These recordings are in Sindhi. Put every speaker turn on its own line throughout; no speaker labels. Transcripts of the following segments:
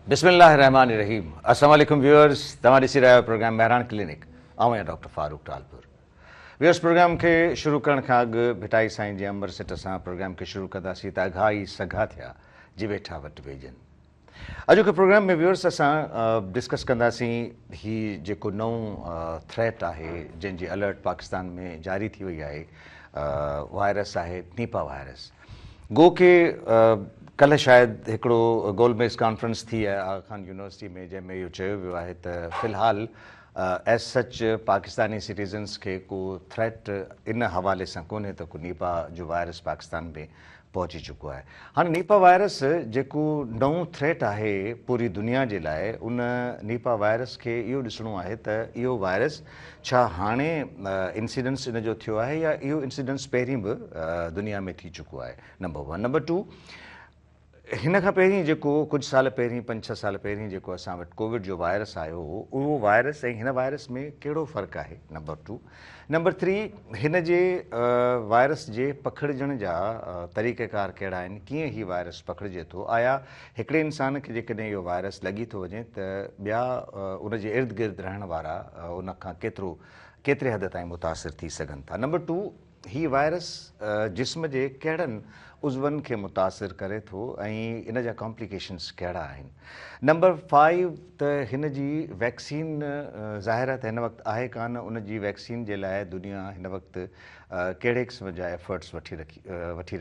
بسم الله الرحمٰن الرحيم السلام عليڪم ويورز توهان ڏسي رهيا آهيو پروگرام مهراڻ ڪلينڪ آئون آهيان doctor Farooq Talpur viewers program کي شروع ڪرڻ کان اڳ ڀٽائي سائين جي امر سٽ سان پروگرام کي شروع ڪنداسين ته اگها ئي سگها ٿيا جي ويٺا وٽ ويجهن اڄوڪي پروگرام ۾ ويورس اسان ڊسڪس ڪنداسين هي جيڪو نئون ٿريٽ آهي جنهن جي الرٽ پاڪستان ۾ جاري ٿي وئي آهي وائرس آهي نيپا وائرس گو ڪي ڪلهه شايد هڪڙو گول ميز ڪانفرنس ٿي آهي آغا خان يونيورسٽي ۾ جنهن ۾ اهو چيو ويو آهي ته في الحال ایز سچ پاڪستاني سٽيزنس کي ڪو ٿريٽ ان حوالي سان ڪونهي ته ڪو نيپا جو وائرس پاڪستان ۾ پهچي چڪو آهي هاڻي نيپا وائرس جيڪو نئون ٿريٽ آهي پوري دنيا جي لاء ان نيپا وائرس کي اهو ڏسڻو آهي ته اهو وائرس ڇا هاڻي انسيڊنس ان جو ٿيو آهي يا اهو انسيڊنس پهرين به دنيا ۾ ٿي چڪو آهي نمبر ون نمبر ٽو هن کان پهرين جيڪو ڪجهه سال پهرين پنج ڇهه سال پهرين جيڪو اسان وٽ ڪووڊ جو وائرس آيو هو اهو وائرس ۽ هن وائرس ۾ ڪهڙو فرق آهي نمبر ٽو نمبر ٿري، هن جي وائرس جي پکڙجڻ جا طريقه ڪار ڪهڙا آهن، ڪيئن هي وائرس پکڙجي ٿو، آيا هڪڙي انسان کي جيڪڏهن اهو وائرس لڳي ٿو وڃي ته ٻيا ان جي ارد گرد رهڻ وارا ان کان ڪيترو ڪيتري حد تائين متاثر ٿي سگهن ٿا. نمبر ٽو، هي وائرس جسم جي ڪهڙن عضون کي متاثر ڪري ٿو ۽ ان جا ڪامپليڪيشنز ڪهڙا آهن. نمبر فائيو ته هن جي ويڪسين ظاهر ته هن وقت آهي ڪانه ان جي ويڪسين جي لاء دنيا هن وقت ڪهڙي قسم جا ايفرٽس وٺي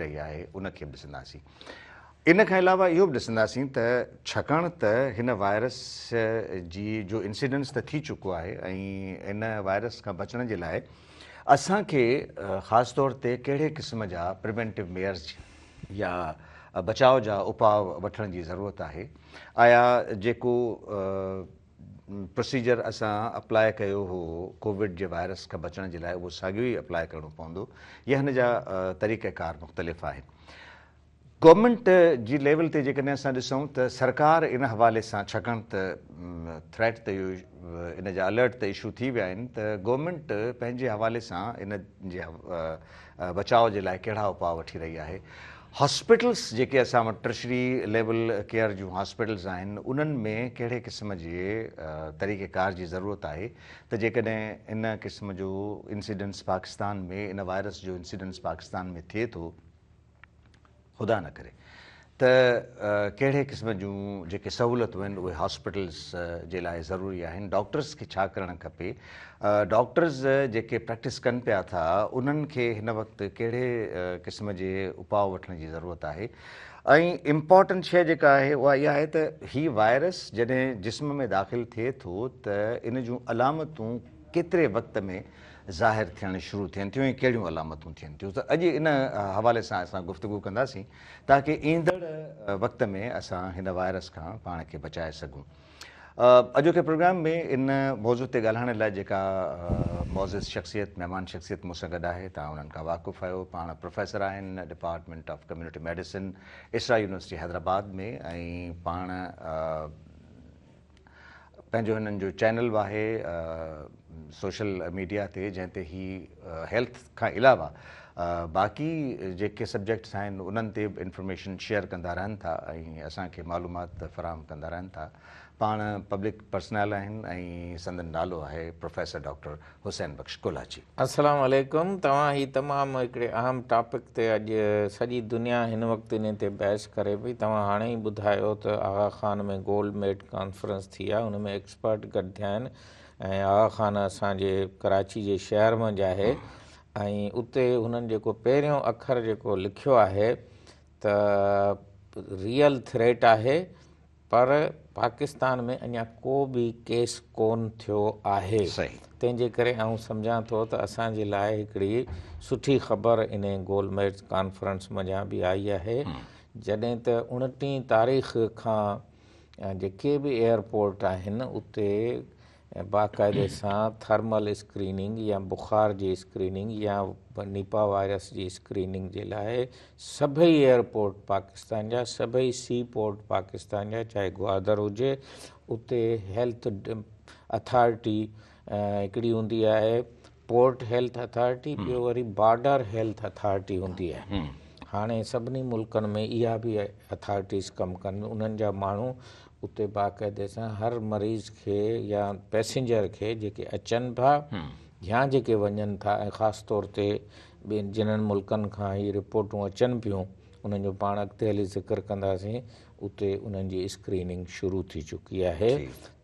رهي آهي ان کي به ڏسنداسين ان کان علاوه اهو به ڏسنداسين ته ڇاڪاڻ ته هن وائرس جي جو انسيڊنس ته ٿي چڪو آهي ۽ ان وائرس کان بچڻ جي لاء اسان کي خاص طور تي ڪهڙي قسم جا پريونٽيو ميئرز يا بچاء جا اپاء وٺڻ جي ضرورت آهي؟ آيا جيڪو پروسيجر اسان اپلاء ڪيو هو ڪووڊ جي وائرس کان بچڻ جي لاء اهو ساڳيو ئي اپلاء ڪرڻو پوندو يا هن جا طريقه ڪار مختلف آهن؟ گورنمينٽ جي ليول تي جيڪڏهن اسان ڏسون ته سرڪار ان حوالي سان ڇڪڻ ته ٿريٽ ته اهو ان جا الرٽ ته اشو ٿي ويا آهن ته گورنمينٽ پنهنجي حوالي سان ان جي بچاء جي لاء ڪهڙا اپاء وٺي رهي آهي هاسپيٽلس جيڪي اسان وٽ ٽرشري ليول ڪيئر جون هاسپيٽلس آهن انهن ۾ ڪهڙي قسم جي طريقه ڪار جي ضرورت آهي ته جيڪڏهن ان قسم جو انسيڊنس پاڪستان ۾ ان وائرس جو انسيڊنس پاڪستان ۾ ٿئي ٿو خدا نه ڪري ته ڪهڙي قسم جون جيڪي سهولتون آهن اهي هاسپيٽلز جي لاء ضروري آهن ڊاڪٽرز کي ڇا ڪرڻ کپي ڊاڪٽرز جيڪي پريڪٽس ڪن پيا ٿا انهن کي هن وقت ڪهڙي قسم جي اپاء وٺڻ جي ضرورت آهي ۽ امپورٽنٽ شيء جيڪا آهي اها اها آهي ته هي وائرس جڏهن جسم ۾ داخل ٿئي ٿو ته ان جون علامتون ڪيتري وقت ۾ ظاهر ٿيڻ شروع ٿين ٿيون ۽ ڪهڙيون علامتون ٿين ٿيون ته اڄ ان حوالي سان اسان گفتگو ڪنداسين تاڪه ايندڙ وقت ۾ اسان هن وائرس کان پاڻ کي بچائي سگهون اڄوڪي پروگرام ۾ ان موضوع تي ڳالهائڻ لاء جيڪا معزز شخصيت مهمان شخصيت مون سان گڏ آهي تان انهن کان واقف آهيو پاڻ پروفيسر آهن department of community medicine Isra university Hyderabad ۾ ۽ پاڻ پنهنجو هنن جو چينل به آهي سوشل ميڊيا تي جنهن تي هي هيلٿ کان علاوه باقي جيڪي سبجيڪٽس آهن انهن تي به انفارميشن شيئر ڪندا رهن ٿا ۽ اسان کي معلومات فراهم ڪندا رهن ٿا پاڻ پبلڪ پرسنل آهن ۽ سندن نالو آهي پروفيسر ڊاڪٽر حسين بخش ڪولاچي. السلام عليڪم
توهان هي تمام هڪڙي اهم ٽاپڪ تي اڄ سڄي دنيا هن وقت انهي تي بحث ڪري پئي توهان هاڻي ئي ٻڌايو ته Aga Khan ۾ gold med conference ٿي آهي ان ۾ ايڪسپرٽ گڏ ٿيا آهن ۽ آغا خان اسان جي ڪراچي جي شهر منجهه آهي ۽ اتي هنن جيڪو پهريون اکر جيڪو لکيو آهي ته ريئل ٿريٽ آهي پر پاڪستان ۾ اڃا ڪو به ڪيس ڪون ٿيو آهي تنهن جي ڪري آئون سمجهان ٿو ته اسان جي لاء هڪڙي سٺي خبر ان گول ميز ڪانفرنس منجهان به آئي آهي جڏهن ته اڻٽيهين تاريخ کان جيڪي به ايئرپورٽ آهن اتي ۽ باقاعدي سان ٿرمل اسڪريننگ يا بخار جي اسڪريننگ يا نيپا وائرس جي اسڪريننگ جي لاء سڀئي ايئرپورٽ پاڪستان جا سڀئي سي پورٽ پاڪستان جا چاهي گوادر هجي اتي هيلٿ اٿارٽي هڪڙي هوندي آهي پورٽ هيلٿ اٿارٽي ٻيو وري بارڊر هيلٿ اٿارٽي هوندي آهي هاڻي سڀني ملڪن ۾ اها به اٿارٽيز ڪم ڪن انهن جا ماڻهو اتي باقاعدي سان هر مريض کي يا پئسينجر کي جيڪي اچن ٿا يا جيڪي وڃن ٿا ۽ خاص طور تي جنهن ملڪن کان هي رپورٽون اچن پيون انهن جو پاڻ اڳتي هلي ذڪر ڪنداسين اتي انهن جي اسڪريننگ شروع ٿي چڪي آهي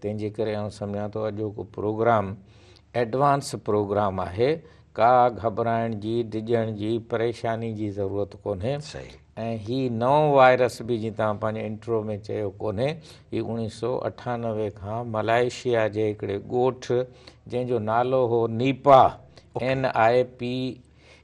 تنهن جي ڪري آئون سمجهان ٿو اڄوڪو پروگرام ايڊوانس پروگرام آهي ڪا گهٻرائڻ جي ڊڄڻ جي پريشاني جي ضرورت ڪونهي ۽ هي نئون وائرس به جيئن توهان پنهنجي انٽرو ۾ چيو ڪونهي هي اوڻيهه سو اٺانوي کان ملائيشيا جي هڪڙي ڳوٺ جنهن جو نالو هو نيپا اين آء پي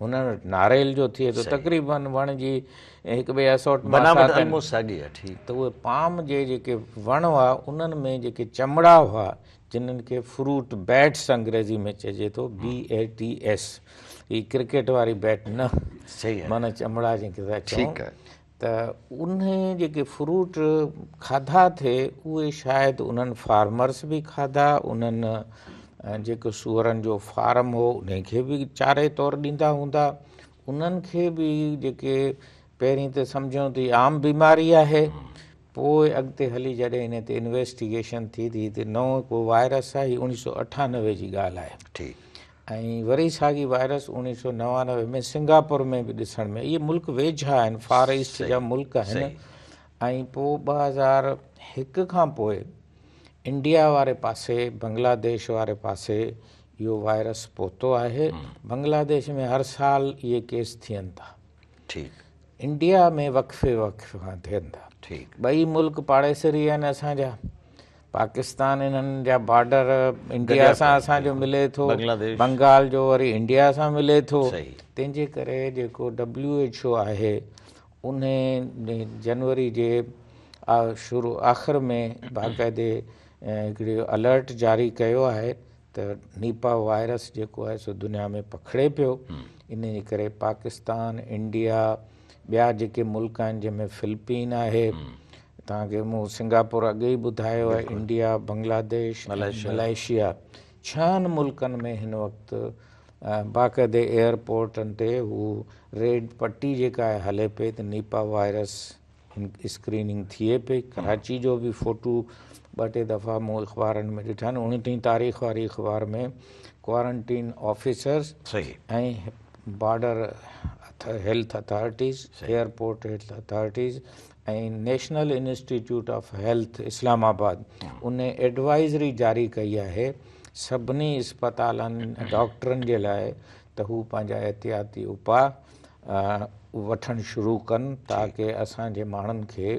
هن وٽ ناريل جو ٿئي ٿو تقريبن وڻ جي هڪ ٻئي اسوٽ بناوٽ الموسٽ ساڳي آهي ٺيڪ ته اهي پام جي جيڪي وڻ هئا انهن ۾ جيڪي چمڙا هئا جنهن کي فروٽ بيٽس انگريزي ۾ چئجي ٿو بي اي ٽي ايس هي ڪرڪيٽ واري بيٽ نه صحيح معنی چمڙا جيڪي ٿا چئون ته انهي جيڪي فروٽ کاڌا ٿي اهي شايد انهن فارمرس به کاڌا انهن جيڪو سوئرن جو فارم هو انهي کي به چاري طور ڏيندا هوندا انهن کي به جيڪي پهرين ته سمجهيون ته هي عام بيماري آهي پوء اڳتي هلي جڏهن انهي تي انويسٽيگيشن ٿي ته هي ته نئون ڪو وائرس آهي هي اوڻيهه سؤ اٺانوي جي ڳالهه آهي ٺيڪ ۽ وري ساڳي وائرس اوڻيهه سؤ نوانوي ۾ سنگاپور ۾ به ڏسڻ ۾ اهي ملڪ ويجها آهن فار ايسٽ جا ملڪ آهن ۽ پوء ٻه هزار هڪ کان پوء انڊيا واري پاسي بنگلا ديش واري پاسي اهو وائرس پهتو آهي بنگلا ديش ۾ هر سال اهي ڪيس ٿين ٿا ٺيڪ انڊيا ۾ وقفي وقفي کان ٿين ٿا ٺيڪ ٻئي ملڪ پاڙيسري آهن اسان جا پاڪستان انهن جا بارڊر انڊيا سان اسان جو ملي ٿو بنگال جو وري انڊيا سان ملي ٿو تنهن جي ڪري جيڪو ڊبليو ايڇ او آهي ان جنوري جي شروع آخر ۾ باقاعدي هڪڙي الرٽ جاري ڪيو آهي ته نيپا وائرس جيڪو آهي سو دنيا ۾ پکڙي پيو ان جي ڪري پاڪستان انڊيا ٻيا جيڪي ملڪ آهن جنهن ۾ فلپين آهي توهان کي مون سنگاپور اڳ ئي ٻڌايو آهي، انڊيا، بنگلاديش ۽ ملائيشيا ڇهن ملڪن ۾ هن وقت باقاعدي ايئرپورٽن تي هو ريڊ پٽي جيڪا آهي هلي پئي ته نيپا وائرس اسڪريننگ ٿئي پئي، ڪراچي جو به فوٽو ٻه ٽي دفعا مون اخبارن ۾ ڏٺا آهن، اوڻٽيهين تاريخ واري اخبار ۾ quarantine officers ۽ border health authorities, airport health authorities ۽ national institute of health Islamabad ان ايڊوائزري جاري ڪئي آهي سڀني اسپتالن ڊاڪٽرن جي لاء ته هو پنهنجا احتياطي اپاء وٺڻ شروع ڪن تاڪه اسان جي ماڻهن کي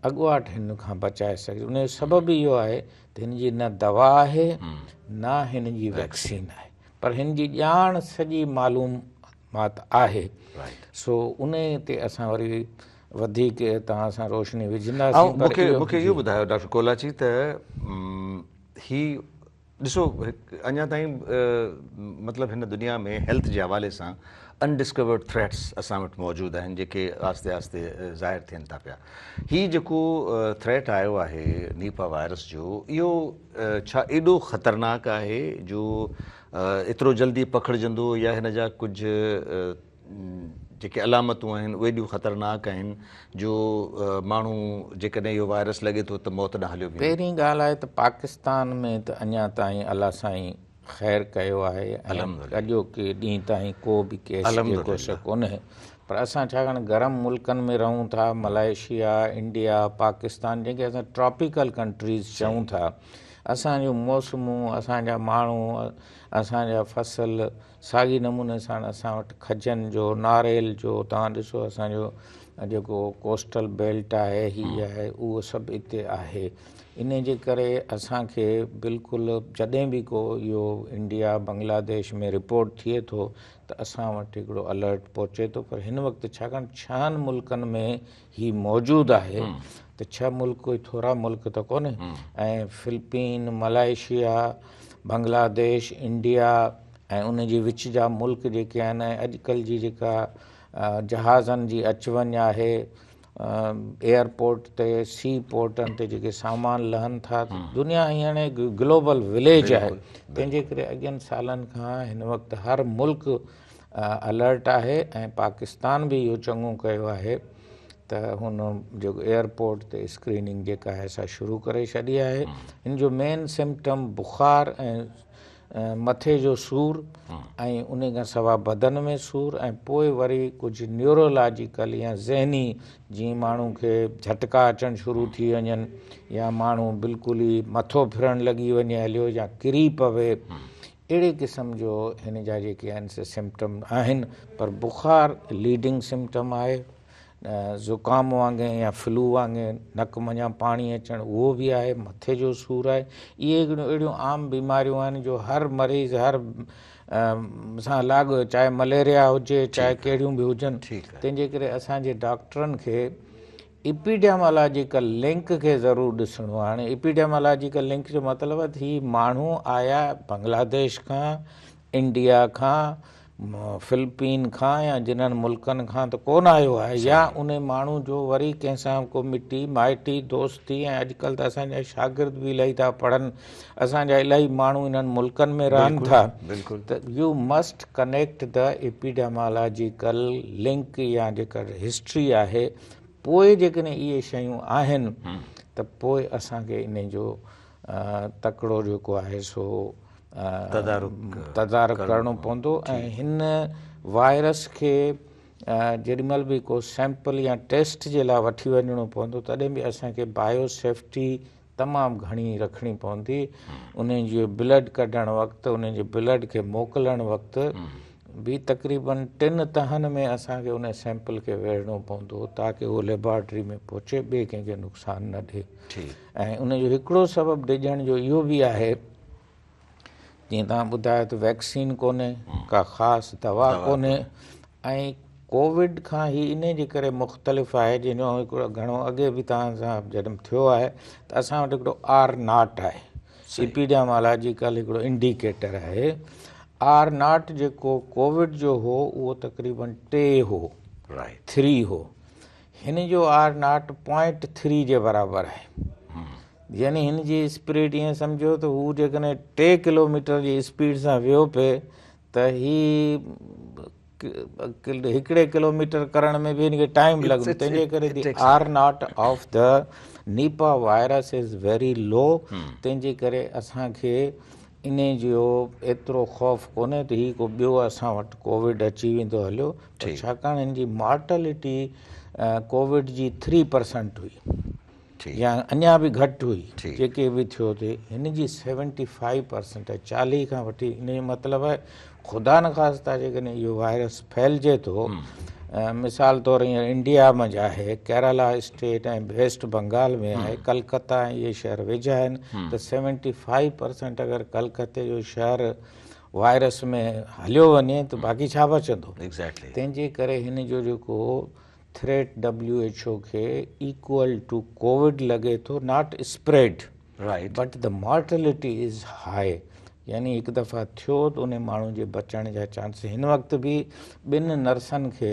اڳواٽ هن کان بچائي سگهجي ان جو سبب اهو آهي ته هن جي نه دوا آهي نه هن جي ويڪسين آهي پر هن جي ڄاڻ سڄي معلوم مات آهي سو انهي تي اسان وري وڌيڪ توهان سان روشني وجهنداسين پر اهو مون کي اهو ٻڌايو
ڊاڪٽر ڪولاچي ته هي ڏسو اڃا تائين مطلب هن دنيا ۾ هيلٿ جي حوالي سان ان ڊسڪورڊ ٿريٽس اسان وٽ موجود آهن جيڪي آهستي آهستي ظاهر ٿين ٿا پيا هي جيڪو ٿريٽ آيو آهي نيپا وائرس جو اهو ڇا ايڏو خطرناڪ آهي جو ايترو جلدي پکڙجندو يا هن جا ڪجهه جيڪي علامتون آهن اهي ايڏيون خطرناڪ آهن جو ماڻهو جيڪڏهن اهو وائرس لڳي ٿو ته موت ڏانهن هليو ويندو. پهرين ڳالهه آهي ته
پاڪستان ۾ ته اڃا تائين الله سائين خير ڪيو آهي ۽ اڄوڪي ڏينهن تائين ڪو به ڪيس جي ڪو شڪ ڪونهي پر اسان ڇاڪاڻ گرم ملڪن ۾ رهون ٿا ملائيشيا، انڊيا، پاڪستان جنهن کي اسان ٽراپيڪل ڪنٽريز چئون ٿا اسان جون موسمون، اسان جا ماڻهو، اسان جا فصل ساڳي نموني سان اسان وٽ کجن جو، ناريل جو، توهان ڏسو اسان جو جيڪو ڪوسٽل بيلٽ آهي، هي آهي، اهو سڀ اتي آهي. انهي جي ڪري اسان کي بلڪل جڏهن به ڪو اهو انڊيا بنگلاديش ۾ رپورٽ ٿئي ٿو ته اسان وٽ هڪڙو الرٽ پهچي ٿو پر هن وقت ڇاڪاڻ ڇهن ملڪن ۾ هي موجود آهي ته ڇهه ملڪ ڪوئي ٿورا ملڪ ته ڪونهي ۽ فلپين، ملائيشيا، بنگلاديش، انڊيا ۽ ان جي وچ جا ملڪ جيڪي آهن ۽ اڄڪلهه جي جيڪا جهازن جي اچ وڃ آهي، ايئرپورٽ تي، سي پورٽن تي جيڪي سامان لهن ٿا، دنيا هينئر هڪ گلوبل وليج آهي، تنهنجي ڪري اڳين سالن کان هن وقت هر ملڪ الرٽ آهي ۽ پاڪستان به اهو چڱو ڪيو آهي ته هن جيڪو ايئرپورٽ تي اسڪريننگ جيڪا آهي سا شروع ڪري ڇڏي آهي هن جو مين سمپٽم بخار ۽ مٿي جو سور ۽ ان کان سواء بدن ۾ سور ۽ پوء وري ڪجهه نيورولاجيڪل يا ذهني جي ماڻهو کي جهٽڪا اچڻ شروع ٿي وڃن يا ماڻهو بلڪل ئي مٿو ڦرڻ لڳي وڃي هليو يا ڪري پوي اهڙي قسم جو هن جا جيڪي آهن سي سمپٽم آهن پر بخار ليڊنگ سمپٽم آهي زڪام وانگي يا فلو وانگي نڪ منجهان پاڻي اچڻ اهو به آهي مٿي جو سور آهي اهي هڪڙيون اهڙيون عام بيماريون آهن جو هر مريض هر سان لاڳ چاهي مليريا هجي چاهي ڪهڙيون به هجن تنهن جي ڪري اسان جي ڊاڪٽرن کي ايپيڊيمالاجيڪل لنڪ کي ضرور ڏسڻو آهي هاڻي ايپيڊيمالاجيڪل لنڪ جو مطلب آهي ته هي ماڻهو آيا بنگلاديش کان انڊيا کان فلپين کان يا جنھن ملڪن کان ته ڪونه آيو آهي يا ان ماڻهو جو وري ڪنھن سان ڪو مٽي مائٽي دوستي ۽ اڄڪلھ ته اسان جا شاگرد به الائي ٿا پڙهن اسان جا الائي ماڻهو انھن ملڪن ۾ رهن ٿا ته you must connect the epidemiological link يا جيڪا هسٽري آهي پوء جيڪڏهن اهي شيون آهن ته پوء اسان کي انهن جو تڪڙو جيڪو آهي سو تدارڪ ڪرڻو پوندو ۽ هن وائرس کي جيڏي مهل به ڪو سيمپل يا ٽيسٽ جي لاء وٺي وڃڻو پوندو تڏهن به اسان کي بايو سيفٽي تمام گهڻي رکڻي پوندي انهن جي بلڊ ڪڍڻ وقت انهن جي بلڊ کي موڪلڻ وقت به تقريبن ٽن تهن ۾ اسان کي ان سيمپل کي ويڙهڻو پوندو تاڪه اهو ليبارٽري ۾ پهچي ٻئي ڪنهن کي نقصان نه ڏي ۽ ان جو هڪڙو سبب ڊڄڻ جو اهو به آهي جيئن توهان ٻڌايو ته ويڪسين ڪونهي ڪا خاص دوا ڪونهي ۽ ڪووڊ کان هي ان جي ڪري مختلف آهي جن جو هڪڙو گهڻو اڳي به توهان سان جڏهن ٿيو آهي ته اسان وٽ هڪڙو آر ناٽ آهي اپيڊيامالاجيڪل هڪڙو انڊيڪيٽر آهي آر ناٽ جيڪو ڪووڊ جو هو اهو تقريبن ٽي هو ٿري هو هن جو آر ناٽ پوائنٽ ٿري جي برابر آهي يعني هن جي اسپريڊ ائين سمجهو ته هو جيڪڏهن ٽي ڪلوميٽر جي اسپيڊ سان ويو پئي ته هي هڪڙي ڪلوميٽر ڪرڻ ۾ به هن کي ٽائم لڳندو تنهنجي ڪري the R naught of the Nipah virus is very low تنهنجي ڪري اسان کي ان جو ايترو خوف ڪونهي ته هي ڪو ٻيو اسان وٽ ڪووڊ اچي ويندو هليو ڇاڪاڻ هن جي مارٽلٽي ڪووڊ جي ٿري پرسنٽ هئي يا اڃا به گهٽ هئي جيڪي به ٿيو ٿي هن جي سيونٽي فائيو پرسنٽ آهي چاليهه کان وٺي ان جو مطلب آهي خدا نخواستہ جيڪڏهن اهو وائرس ڦهلجي ٿو مثال طور هينئر انڊيا منجھ آهي ڪيرالا اسٽيٽ ۽ ويسٽ بنگال ۾ آهي ڪلڪتا ۽ اهي شهر ويجها آهن ته سيونٽي فائيو پرسنٽ اگر ڪلڪتي جو شهر وائرس ۾ هليو وڃي ته باقي ڇا بچندو؟ Exactly. تنهن جي ڪري هن جو جيڪو ٿريٽ WHO کي ايڪول ٽو ڪووڊ لڳي ٿو not spread Right. But the mortality is high يعني هڪ دفعا ٿيو ته انهي ماڻهو جي بچڻ جا چانس هن وقت به ٻن نرسن کي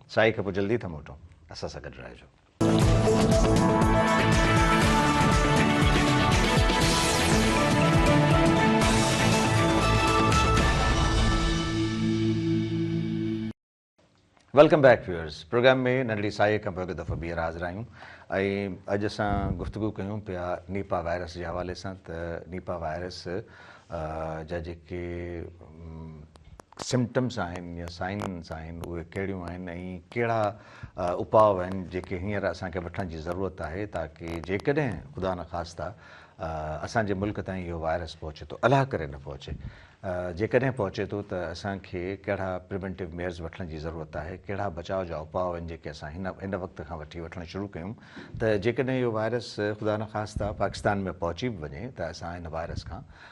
سائين کي پوء جلدي ٿا موٽون اسان سان گڏ رهجو. ويلڪم بيڪ ويورز پروگرام ۾ ننڍڙي ساهي کان پوء هڪ دفعو ٻيهر حاضر آهيون ۽ اڄ اسان گفتگو ڪيون پيا نيپا وائرس جي حوالي سان ته نيپا وائرس جا جيڪي سمپٽمس آهن يا سائنس آهن اهي ڪهڙيون آهن ۽ ڪهڙا اپاء آهن جيڪي هينئر اسان کي وٺڻ جي ضرورت آهي تاڪه جيڪڏهن خدا نخواسته اسان جي ملڪ تائين اهو وائرس پهچي ٿو الله ڪري نه پهچي جيڪڏهن پهچي ٿو ته اسان کي ڪهڙا پريونٽو ميئرز وٺڻ جي ضرورت آهي ڪهڙا بچاء جا اپاء آهن جيڪي اسان هن هن وقت کان وٺي وٺڻ شروع ڪيون ته جيڪڏهن اهو وائرس خدا نخواسته پاڪستان ۾ پهچي به وڃي ته اسان هن وائرس کان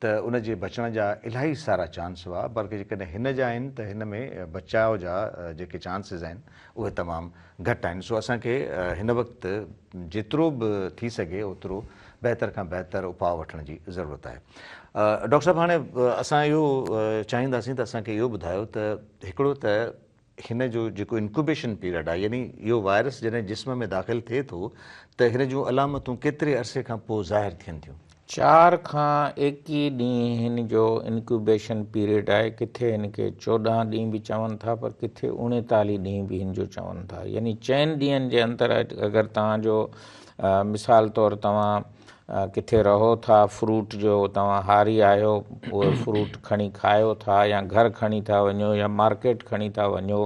ته ان جي بچڻ جا الاهي سارا چانس هئا، بلڪ جيڪڏهن هن جا آهن ته هن ۾ بچاء جا جيڪي چانسز آهن اهي تمام گهٽ آهن، سو اسان کي هن وقت جيترو به ٿي سگهي اوترو بهتر کان بهتر اپاء وٺڻ جي ضرورت آهي. ڊاڪٽر صاحب هاڻي اسان اهو چاهينداسين ته اسان کي اهو ٻڌايو ته هڪڙو ته هن جو جيڪو انڪوبيشن پيريڊ آهي يعني اهو وائرس جڏهن جسم ۾ داخل ٿئي ٿو ته هن جون علامتون ڪيتري عرصي کان پوء ظاهر ٿين ٿيون؟ چار کان
ايڪيهه ڏينهن هن جو انڪوبيشن پيريڊ آهي، ڪٿي هن کي چوڏهن ڏينهن به چون ٿا پر ڪٿي اڻيتاليهه ڏينهن به هن جو چون ٿا يعني چئن ڏينهن جي اندر اگر توهان جو مثال طور توهان ڪٿي رهو ٿا، فروٽ جو توهان هاري آهيو، اهي فروٽ کڻي کايو ٿا يا گهر کڻي ٿا وڃو يا مارڪيٽ کڻي ٿا وڃو،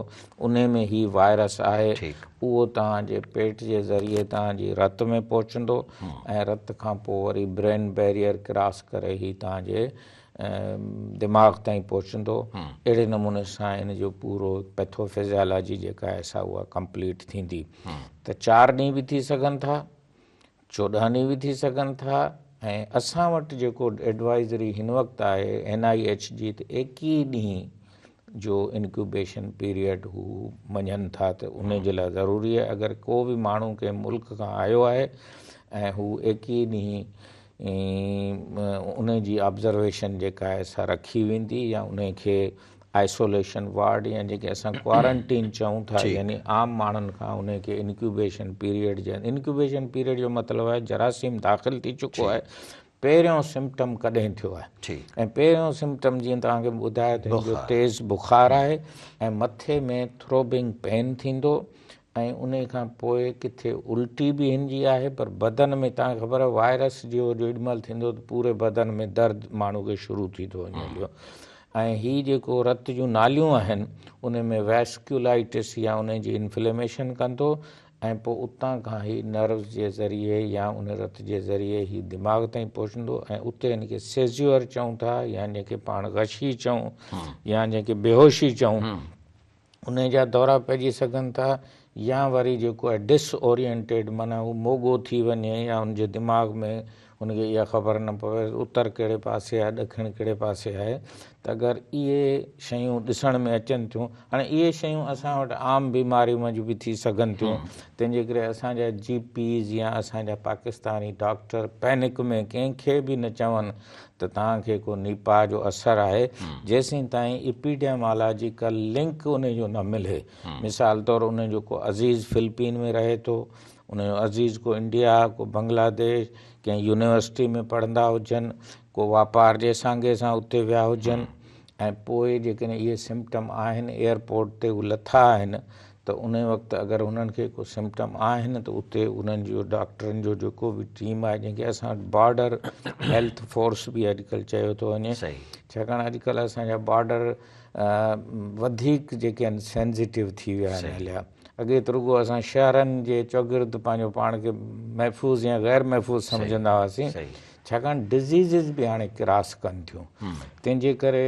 انهي ۾ هي وائرس آهي، اهو توهان جي پيٽ جي ذريعي توهان جي رت ۾ پهچندو ۽ رت کان پوء وري برين بيريئر ڪراس ڪري هي توهان جي دماغ تائين پهچندو، اهڙي نموني سان ان جو پورو پيٿو فزيالاجي جيڪا آهي سا اها ڪمپليٽ ٿيندي ته چار ڏينهن به ٿي سگهن ٿا، چوڏهاني به ٿي سگهن ٿا ۽ اسان وٽ جيڪو ايڊوائزري هن وقت آهي اين آئي ايڇ جي ته ايڪيهه ڏينهن جو انڪيوبيشن پيريڊ هو مڃن ٿا ته ان جي لاء ضروري آهي اگر ڪو به ماڻهو ڪنهن ملڪ کان آيو آهي ۽ هو ايڪيهه ڏينهن ان جي آبزرويشن جيڪا آهي سا رکي ويندي يا ان کي آئسوليشن وارڊ يا جيڪي اسان ڪوارنٽين چئون ٿا يعني عام ماڻهن کان ان کي انڪيوبيشن پيريڊ جي انڪيوبيشن پيريڊ جو مطلب آهي جراثيم داخل ٿي چڪو آهي پهريون سمپٽم ڪڏهن ٿيو آهي ۽ پهريون سمپٽم جيئن توهان کي ٻڌايو ته تيز بخار آهي ۽ مٿي ۾ ٿروبنگ پين ٿيندو ۽ انهي کان پوء ڪٿي الٽي به هن جي آهي پر بدن ۾ تان خبر وائرس جيو جيڏي مهل ٿيندو ته پوري بدن ۾ درد ماڻهو کي شروع ٿي ٿو وڃي پيو ۽ هي جيڪو رت جون ناليون آهن انهي ۾ ويسڪيولائيٽس يا انهي جي انفليميشن ڪندو ۽ پوء اتان کان هي نروز جي ذريعي يا انهي رت جي ذريعي هي دماغ تائين پهچندو ۽ اتي هن کي سيزيور چئون ٿا يا جنهن کي پاڻ غشي چئون يا جنهن کي بيهوشي چئون انهي جا دورا پئجي سگهن ٿا يا وري جيڪو آهي ڊس اورينٽيڊ معنيٰ هو موڳو ٿي وڃي يا هن جي دماغ ۾ هن کي اها خبر نه پوي اتر ڪهڙي پاسي آهي ڏکڻ ڪهڙي پاسي آهي ته اگر اهي شيون ڏسڻ ۾ اچن ٿيون هاڻي اهي شيون اسان وٽ عام بيماري منجهه به ٿي سگهن ٿيون تنهن جي ڪري اسان جا جي پيز يا اسان جا پاڪستاني ڊاڪٽر پينڪ ۾ ڪنهن کي به نه چون ته توهان کي ڪو نيپاهه جو اثر آهي جيسين تائين اپيڊيمالاجيڪل لنڪ انهي جو نه ملي مثال طور انهي جو ڪو عزيز فلپين ۾ رهي ٿو انهي جو عزيز ڪو انڊيا ڪو بنگلاديش ڪنهن يونيورسٽي ۾ پڙهندا هجن ڪو واپار جي سانگي سان اتي ويا هجن ۽ پوء جيڪڏهن اهي سمپٽم آهن ايئرپورٽ تي هو لٿا آهن ته ان وقت اگر انهن کي ڪو سمپٽم آهن ته اتي انهن جو ڊاڪٽرن جو جيڪو به ٽيم آهي جنهن کي اسان وٽ بارڊر هيلٿ فورس به اڄڪلهه چيو ٿو وڃي ڇاڪاڻ اڄڪلهه اسان جا بارڊر وڌيڪ جيڪي آهن سينزيٽو ٿي ويا آهن هليا اڳي ته رڳو اسان شهرن جي چوگرد پنهنجو پاڻ کي محفوظ يا غير محفوظ سمجهندا هئاسين ڇاڪاڻ ڊزيزز به هاڻي ڪراس ڪن ٿيون تنهن جي ڪري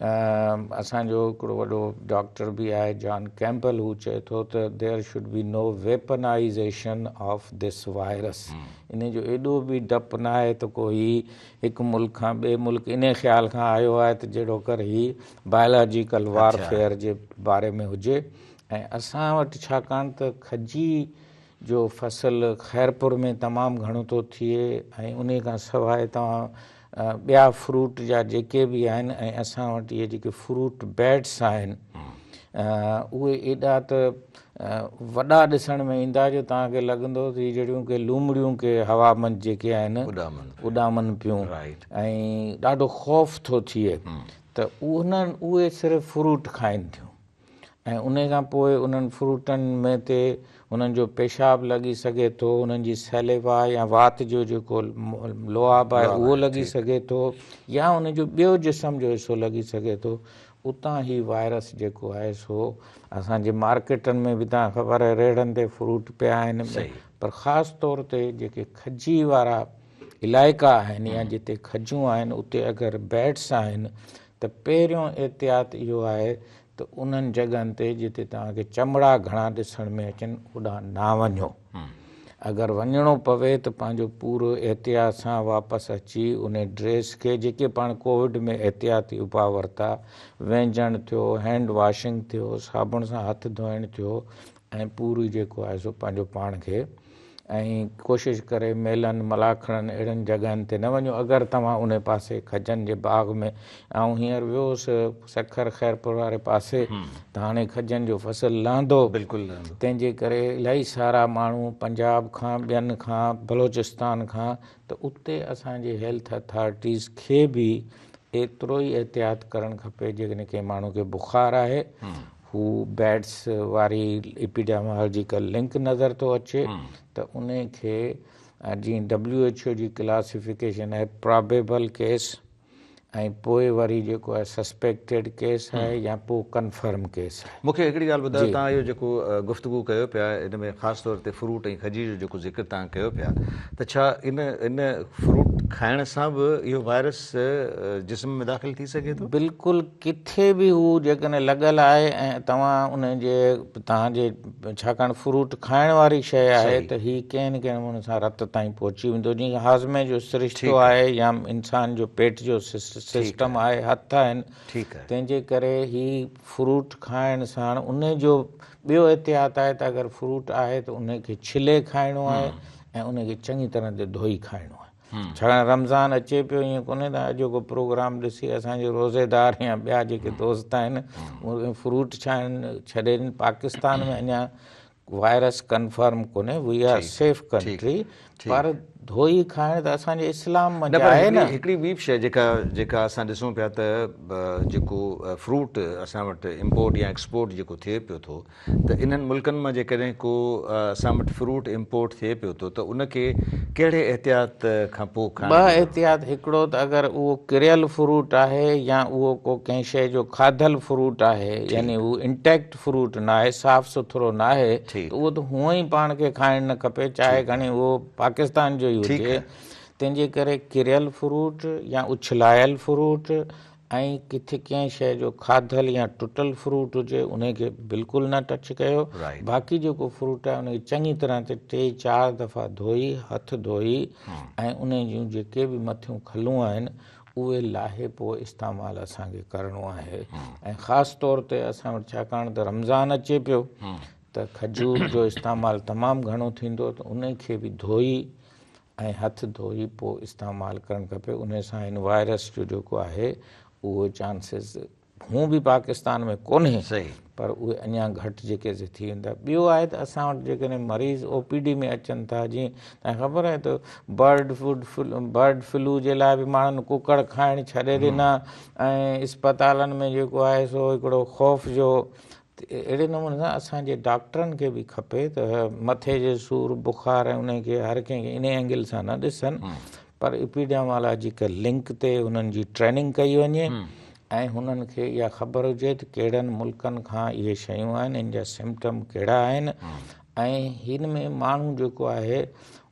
اسان جو هڪڙو وڏو ڊاڪٽر به آهي جان ڪيمپل هو چئي ٿو ته there should be no weaponization of this virus ان جو ايڏو به ڊپ نه آهي ته ڪو هي هڪ ملڪ کان ٻئي ملڪ انهي خيال کان آيو آهي ته جهڙو ڪر هي بايولاجيڪل وارفيئر جي باري ۾ هجي ۽ اسان وٽ ڇاڪاڻ ته کجي جو فصل خيرپور ۾ تمام گهڻو ٿو ٿئي ۽ انهي کان سواء توهان ٻيا فروٽ جا جيڪي به آهن ۽ اسان وٽ اهي جيڪي فروٽ بيڊس آهن اهي ايڏا ته وڏا ڏسڻ ۾ ايندا جو توهان کي لڳندو ته جهڙيون ڪي لومڙيون ڪي هوا منجهه جيڪي آهن اڏامن پيون ۽ ڏاڍو خوف ٿو ٿئي ته انهن اهي صرف فروٽ کائن ٿيون ۽ انهي کان پوء انهن فروٽن ۾ تي انهن جو پيشاب لڳي سگهي ٿو، انهن جي Saliva يا وات جو جيڪو لعاب آهي اهو لڳي سگهي ٿو يا انهن جو ٻيو جسم جو حصو لڳي سگهي ٿو، اتان هي وائرس جيڪو آهي سو اسان جي مارڪيٽن ۾ به تان خبر آهي ريڙهن تي فروٽ پيا آهن پر خاص طور تي جيڪي کجي وارا علائقا آهن يا جتي کجون آهن اتي اگر Bats آهن ته پهريون احتياط اهو آهي ته انهن جڳهن تي جتي توهان کي چمڙا گهڻا ڏسڻ ۾ اچن اوڏانهن نه وڃو. اگر وڃڻو پوي ته پنهنجو پورو احتياط سان واپس اچي انهي ڊريس کي جيڪي پاڻ ڪووڊ ۾ احتياطي اپاء ورتا، وينجهڻ ٿيو، هينڊ واشنگ ٿيو، صابڻ سان هٿ ڌوئڻ ٿيو، ۽ پوري جيڪو آهي سو پنهنجو پاڻ کي ۽ ڪوشش ڪري ميلن، ملاکڙن اهڙين جڳهن تي نه وڃو اگر توهان انهي پاسي کجن جي باغ ۾ آئون هينئر ويو هوس سکر خيرپور واري پاسي ته هاڻي کجن جو فصل لهندو تنهن جي
ڪري الائي
سارا ماڻهو پنجاب کان ٻين کان بلوچستان کان ته اتي اسان جي هيلٿ اٿارٽيز کي به ايترو ئي احتياط ڪرڻ کپي جيڪڏهن ڪنهن ماڻهو کي بخار آهي هو بيڊس واري ايپيڊيمالاجيڪل لنڪ نظر ٿو اچي ته ان کي اڄ ڊبليو ايڇ او جي ڪلاسيفڪيشن آهي پرابيبل ڪيس ۽ پوء وري جيڪو آهي سسپيڪٽيڊ ڪيس آهي يا پوء ڪنفرم ڪيس آهي. مون کي هڪڙي ڳالهه ٻڌايو توهان
اهو جيڪو گفتگو ڪيو پيا ان ۾ خاص طور تي فروٽ ۽ کجي جو جيڪو ذڪر توهان ڪيو پيا ته ڇا ان ان فروٽ کائڻ سان به اهو وائرس جسم ۾ داخل ٿي سگهي ٿو؟ بلڪل ڪٿي
به هو جيڪڏهن لڳل آهي ۽ توهان ان جي توهان جي ڇاڪاڻ فروٽ کائڻ واري شيء آهي ته هي ڪنهن نه ڪنهن نموني سان رت تائين پهچي ويندو جيئن هاضمي جو سرشتو آهي يا انسان جو پيٽ جو سسٽم آهي هٿ آهن تنهن جي ڪري هي فروٽ کائڻ ساڻ ان جو ٻيو احتياط آهي ته اگر فروٽ آهي ته ان کي ڇلي کائڻو آهي ۽ ان کي چڱي طرح ڌوئي کائڻو آهي. ڇاڪاڻ رمضان اچي پيو ائين ڪونهي ته اڄوڪو پروگرام ڏسي اسان جي روزيدار يا ٻيا جيڪي دوست آهن اهي فروٽ ڇا آهن ڇڏين پاڪستان ۾ اڃا وائرس ڪنفرم ڪونهي وي آر سيف ڪنٽري پر ڌوئي کائڻ ته اسان جي اسلام ۾ به آهي نه هڪڙي ٻي به شيء جيڪا
جيڪا اسان ڏسون پيا ته جيڪو فروٽ اسان وٽ امپورٽ يا ايڪسپورٽ جيڪو ٿئي پيو ٿو ته انهن ملڪن مان جيڪڏهن ڪو اسان وٽ فروٽ امپورٽ ٿئي پيو ٿو ته ان کي ڪهڙي احتياط کان پوء کائڻ ٻه گهرجي؟ احتياط هڪڙو
ته اگر اهو ڪريل فروٽ آهي يا اهو ڪو ڪنهن شيء جو کاڌل فروٽ آهي يعني هو انٽيڪٽ فروٽ نه آهي صاف سٿرو نه آهي ته اهو ته هونئن ئي پاڻ کي کائڻ نه کپي چاهي کڻي اهو پاڪستان جو ئي هجي تنهن جي ڪري ڪريل فروٽ يا اڇلايل فروٽ ۽ ڪٿي ڪنهن شيء جو کاڌل يا ٽٽل فروٽ هجي ان کي بلڪل نه ٽچ ڪيو باقي جيڪو فروٽ آهي ان کي چڱي طرح تي ٽي چار دفعا ڌوئي هٿ ڌوئي ۽ ان جون جيڪي به مٿيون کلون آهن اهي لاهي پوء استعمال اسان کي ڪرڻو آهي ۽ خاص طور تي اسان وٽ ڇاڪاڻ ته رمضان اچي پيو ته کجور جو استعمال تمام گهڻو ٿيندو ته ان کي به ڌوئي ۽ هٿ ڌوئي پوء استعمال ڪرڻ کپي انهي سان هن وائرس جو جيڪو آهي اهو چانسز هون به پاڪستان ۾ ڪونهي پر اهي اڃان گهٽ جيڪي سي ٿي ويندا ٻيو آهي ته اسان وٽ جيڪڏهن مريض او پي ڊي ۾ اچن ٿا جي تنهن خبر آهي ته برڊ فوڊ برڊ فلو جي لاء به ماڻهن ڪڪڙ کائڻ ڇڏي ڏنا ۽ اسپتالن ۾ جيڪو آهي سو هڪڙو خوف جو اهڙي نموني سان اسان جي ڊاڪٽرن کي به کپي ته مٿي جي سور بخار ۽ انهي کي هر ڪنهن کي انهي اينگل سان نه ڏسن پر اپيڊيامالاجيڪل لنڪ تي انهن جي ٽريننگ ڪئي وڃي ۽ هنن کي اها خبر هجي ته ڪهڙن ملڪن کان اهي شيون آهن ان جا سمپٽم ڪهڙا آهن ۽ هن ۾ ماڻهو جيڪو آهي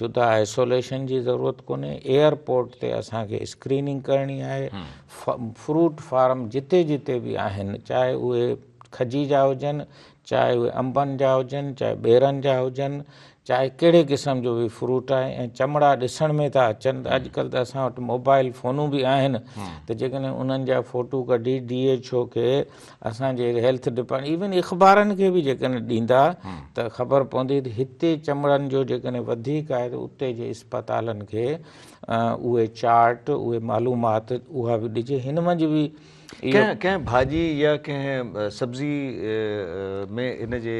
جدا آئسوليشن جي ضرورت ڪونهي، ايئر پورٽ تي اسان کي اسڪريننگ ڪرڻي آهي، فروٽ فارم جتي جتي به آهن چاهي اهي کجي جا هجن، چاهي اهي انبن جا هجن، چاهي ٻيرن جا هجن، چاهي ڪهڙي قسم جو به فروٽ آهي ۽ چمڙا ڏسڻ ۾ ٿا اچن ته اڄڪلهه ته اسان وٽ موبائل فونون به آهن ته جيڪڏهن انهن جا فوٽو ڪڍي ڊي ايڇ او کي اسان جي هيلٿ ڊپارٽمينٽ ايون اخبارن کي به جيڪڏهن ڏيندا ته خبر پوندي ته هتي چمڙن جو جيڪڏهن وڌيڪ آهي ته اتي جي اسپتالن کي اهي چارٽ اهي معلومات اها به ڏجي هن منجهه به اهو ڪنهن
ڀاڄي يا ڪنهن سبزي ۾ هن جي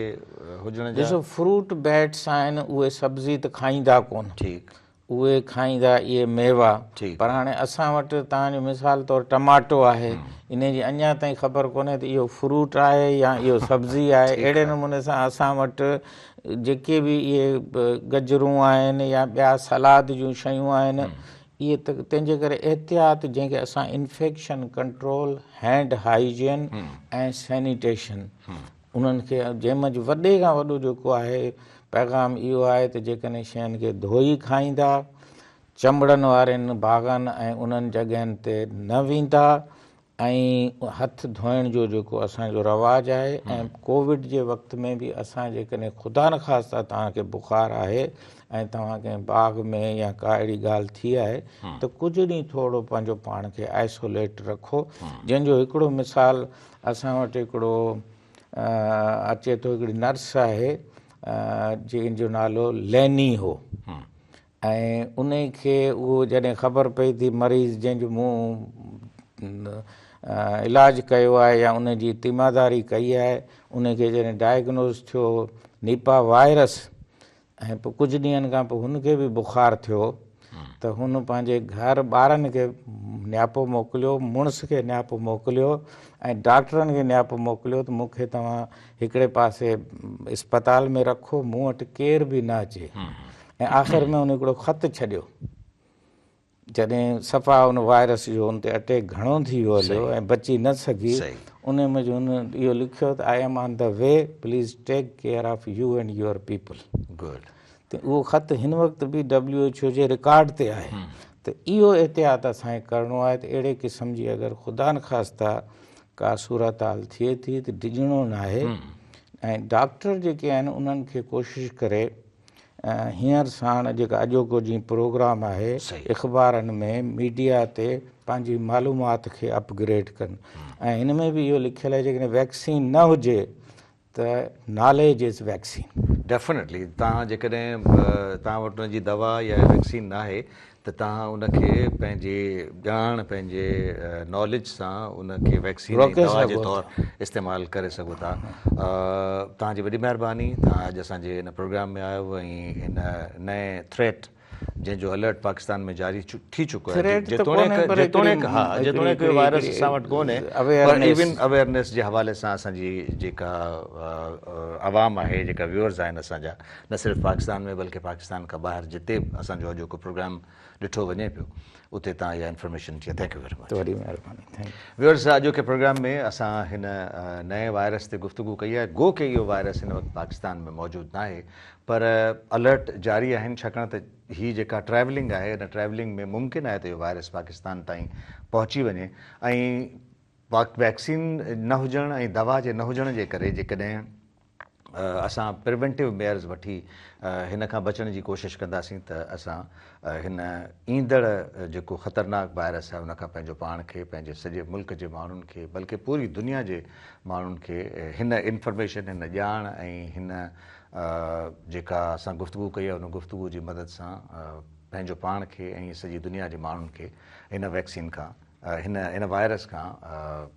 هجڻ جا ڏسو فروٽ بيٽس
آهن اهي سبزي ته کائيندا ڪونه ٺيڪ اهي
کائيندا
اهي ميوا پر هاڻي
اسان وٽ
توهان جو مثال طور ٽماٽو آهي انهي جي اڃان تائين خبر ڪونهي ته اهو فروٽ آهي يا اهو سبزي آهي اهڙي نموني سان اسان وٽ جيڪي به اهي گجرون آهن يا ٻيا سلاد جون شيون آهن اهي تنهن جي ڪري احتياط جنهن کي اسان infection control hand hygiene ۽ sanitation انهن کي جنهن منجهه وڏي کان وڏو جيڪو آهي پيغام اهو آهي ته جيڪڏهن شين کي ڌوئي کائيندا، چنبڙن وارين باغن ۽ انهن جڳهين تي نه ويندا ۽ هٿ ڌوئڻ جو جيڪو اسان جو رواج آهي ۽ ڪووڊ جي وقت ۾ به اسان جيڪڏهن خدا نخواسته توهان کي بخار آهي ۽ توهان ڪنهن باغ ۾ يا ڪا اهڙي ڳالهه ٿي آهي ته ڪجهه ڏينهن ٿورو پنهنجو پاڻ کي آئسوليٽ رکو جنهن جو هڪڙو مثال اسان وٽ هڪڙو اچي ٿو هڪڙي نرس آهي جنهن جو نالو ليني هو ۽ ان کي اهو جڏهن خبر پئي ٿي مريض جنهن جو مون علاج ڪيو آهي يا ان جي تيماداري ڪئي آهي ان کي جڏهن ڊائگنوز ٿيو نيپا وائرس ۽ پوء ڪجهه ڏينهن کان پوء هن کي به بخار ٿيو ته هن پنهنجي گهر ٻارن کي نياپو موڪليو، مڙس کي نياپو موڪليو ۽ ڊاڪٽرن کي نياپو موڪليو ته مون کي توهان هڪڙي پاسي اسپتال ۾ رکو، مون وٽ ڪير به نه اچي ۽ آخر ۾ هن هڪڙو خط ڇڏيو. جڏهن صفا ان وائرس جو ان تي اٽيڪ گهڻو ٿي ويو هليو ۽ بچي نه سگهي انهي ۾ جو هن اهو لکيو ته I am on the way please take care of you and your people good
ته اهو خط
هن وقت به ڊبليو ايڇ او جي رڪارڊ تي آهي ته اهو احتياط اسان کي ڪرڻو آهي ته اهڙي قسم جي اگر خدا نخواسته ڪا صورتحال ٿئي ٿي ته ڊڄڻو ناهي ۽ ڊاڪٽر جيڪي آهن انهن کي ڪوشش ڪري هينئر ساڻ جيڪا اڄوڪو جيئن پروگرام آهي اخبارن ۾ ميڊيا تي پنهنجي معلومات کي اپ گريڊ ڪن ۽ ان ۾ به اهو لکيل آهي جيڪڏهن ويڪسين نه هجي ته ناليج از ويڪسين. ڊيفنيٽلي تان
جيڪڏهن تان وٽ ان جي دوا يا ويڪسين ناهي ته توهان ان کي پنهنجي ڄاڻ پنهنجي ناليج سان ان کي ويڪسين ۽ دوا جي طور استعمال ڪري سگهو ٿا توهان جي وڏي مهرباني توهان اڄ اسان جي ان پروگرام ۾ آيو ۽ ان نئين ٿريٽ جنهن جو الرٽ پاڪستان ۾ جاري ٿي چڪو آهي جيتوڻيڪ ها جيتوڻيڪ اهو وائرس اسان وٽ ڪونهي پر ايون اويرنيس جي حوالي سان اسان جي جيڪا عوام آهي جيڪا ويورز آهن اسان جا نه صرف پاڪستان ۾ بلڪه پاڪستان کان ٻاهر جتي به اسان جو اڄوڪو پروگرام ڏٺو وڃي پيو اتي تان اها انفارميشن ٿي ٿينڪ يو ويري مچ. توهري مهرباني ٿينڪ
يو. ويورز اڄوڪي
پروگرام ۾ اسان هن نئين وائرس تي گفتگو ڪئي آهي گو ڪي اهو وائرس هن وقت پاڪستان ۾ موجود ناهي پر الرٽ جاري آهن ڇاڪاڻ ته هي جيڪا ٽريولنگ آهي ان ٽريولنگ ۾ ممڪن آهي ته اهو وائرس پاڪستان تائين پهچي وڃي ۽ ويڪسين نه هجڻ ۽ دوا جي نه هجڻ جي ڪري جيڪڏهن اسان پريونٽيو ميئرز وٺي هن کان بچڻ جي ڪوشش ڪنداسين ته اسان هن ايندڙ جيڪو خطرناڪ وائرس آهي ان کان پنهنجو پاڻ کي پنهنجي سڄي ملڪ جي ماڻهن کي بلڪه پوري دنيا جي ماڻهن کي هن انفارميشن هن ڄاڻ ۽ هن جيڪا اسان گفتگو ڪئي آهي ان گفتگو جي مدد سان پنهنجو پاڻ کي ۽ سڄي دنيا جي ماڻهن کي هن ويڪسين کان هن هن وائرس کان